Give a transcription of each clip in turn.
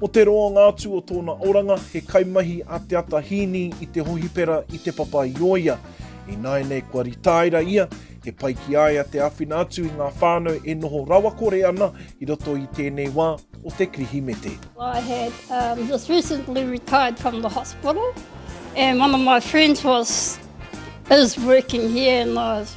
Ko te roa ngā atu o tōna oranga, he kaimahi a Te Ata Hīni i te hohipera i Te Papa-i-ōia. Ināianei kua ritaira ia, he pai ki a ia te āwhina atu i ngā whānau e noho rawakore ana i roto i tēnei wā o te Kirihimete. I had um, just recently retired from the hospital and one of my friends was is working here and I was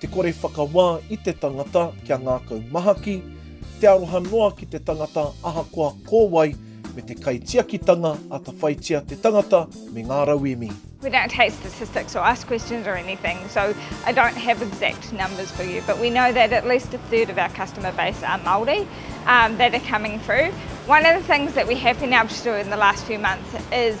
Te kore whakawā i te tangata kia ngākau mahaki, te aroha noa ki te tangata ahakoa ko wai, me te kaitiakitanga atawhaitia te tangata me ngā rauemi. We don't take statistics or ask questions or anything, so I don't have exact numbers for you, but we know that at least a third of our customer base are Māori that are coming through. One of the things that we have been able to do in the last few months is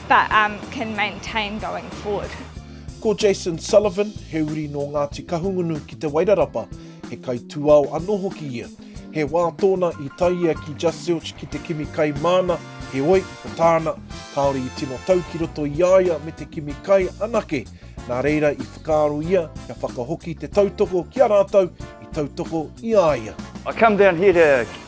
but um can maintain going forward. Ko Jason Sullivan, he uri nō Ngāti Kahungunu ki Te Wairarapa, he kaitūao anō hoki ia. He wā tōna i tae ia ki Just Zilch ki te kimi kai māna, heoi, ko tāna, kāore i tino tau ki roto i a ia me te kimi kai anake, nā reira i whakaaro ia kia whakahoki te tautoko ki a rātou i tautoko i a ia. I come down here to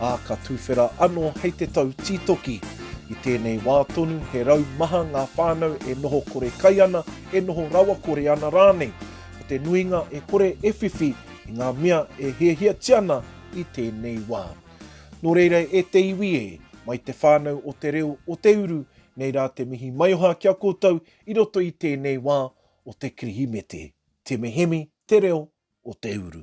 ā, ka tuwhera anō hei te tau tītoki. I tēnei wā tonu, he rau maha ngā whānau e noho kore kai ana, e noho rawakore ana rānei. Ko te nuinga e kore e whiwhi i ngā mea e hiahiatia ana i tēnei wā. Nō reira e te iwi e, mai te whānau o te reo o te uru, nei rā te mihi maioha ki a koutou i roto i tēnei wā o te Kirihimete. Te Mihemi, te reo o te uru.